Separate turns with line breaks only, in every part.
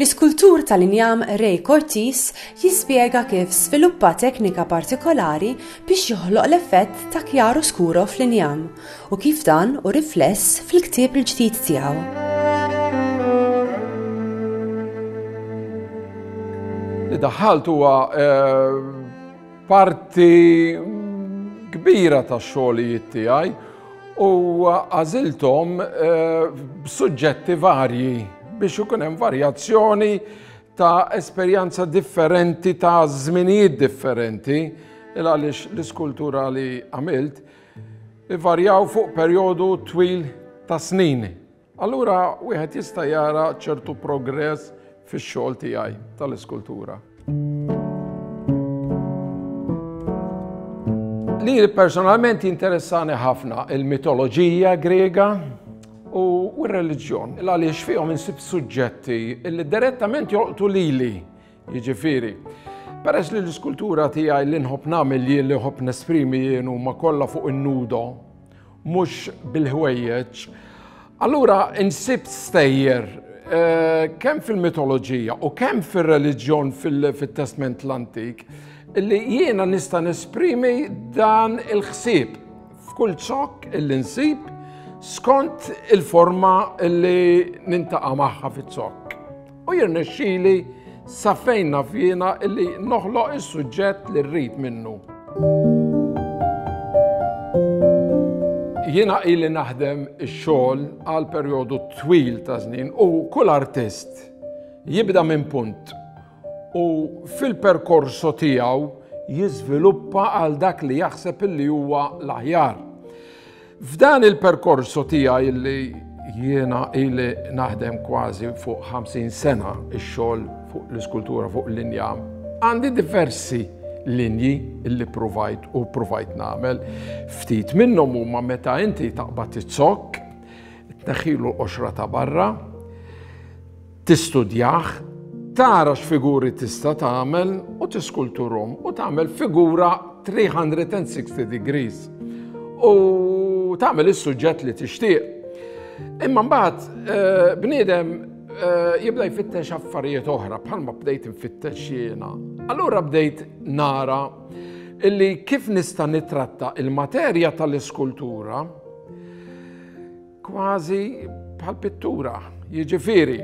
L-iskultur tal-injam Ray Cortis jispjega kif sviluppa teknika partikolari biex joħloq l-effett ta' kjaru skuro fl-injam u kif dan hu rifless fil-ktieb il-ġdid tiegħu.
li daħħalt huwa eh, parti kbira ta' xogħlijiet tiegħi u għażilthom b'suġġetti varji biex ikun hemm varjazzjoni ta' esperjenza differenti ta' żminijiet differenti il għaliex l-iskultura li għamilt ivarjaw fuq perjodu twil ta' snin. Allura wieħed jista' jara ċertu progress fix-xogħol tiegħi tal-iskultura. Li personalment jinteressani ħafna il-mitoloġija Griega u r-reliġjon, għaliex fihom insib suġġetti li direttament jolqtu lili Jiġifieri, peress li l-iskultura tiegħi li nħobb nagħmel jien li nħobb nesprimi jien huma kollha fuq in-nudo, mhux bil-ħwejjeġ, allura insibt stejjer eh, kemm fil-mitoloġija u kemm fir-reliġjon fit-testment l-antik li jiena nista' nesprimi dan il-ħsieb f'kull ċokk illi nsib skont il-forma li nintaqa' magħha fiċ-ċokk. U jirnexxili sa fejn naf jiena li noħloq is-suġġett li rrid minnu. Jiena ili naħdem ix-xogħol għal perjodu twil ta' żnien u kull artist jibda minn punt u fil-perkorso tiegħu jiżviluppa għal dak li jaħseb illi huwa l-aħjar. F'dan il-perkorso tiegħi li jiena ili naħdem kważi fuq 50 sena x-xogħol fuq l-iskultura fuq l-injam, għandi diversi linji li provajt u provajt nagħmel. Ftit minnhom huma meta inti taqbad it-zokk, tneħħilu l-qoxra ta' barra, tistudjah, tara x'figuri tista' tagħmel u tiskulturhom u tagħmel figura 360 degrees u tagħmel is-suġġett li tixtieq. Imma mbagħad eh, bniedem eh, jibda jfittex affarijiet oħra bħalma bdejt nfittex jiena. Allura bdejt nara illi kif nista' nitratta il-materja tal-iskultura Kważi bħal pittura, jiġifieri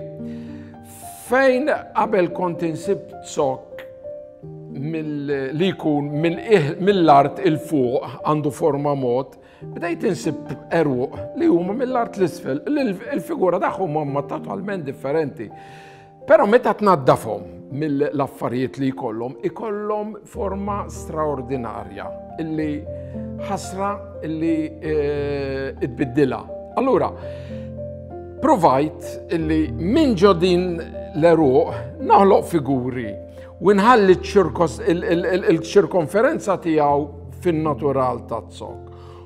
fejn qabel kont insib zokk li jkun mill-art il-fuq għandu forma mod, bdejt insib eruq li huma mill-art l-isfel, il-figura tagħhom huma totalment differenti. Però meta tnaddafhom mill-affarijiet li jkollhom, ikollhom forma straordinarja illi ħasra illi eh, tbiddilha. Allura, provajt illi minn ġodin l-eruq naħloq figuri u nħalli il-ċirkonferenza tiegħu fin-natural ta' zok.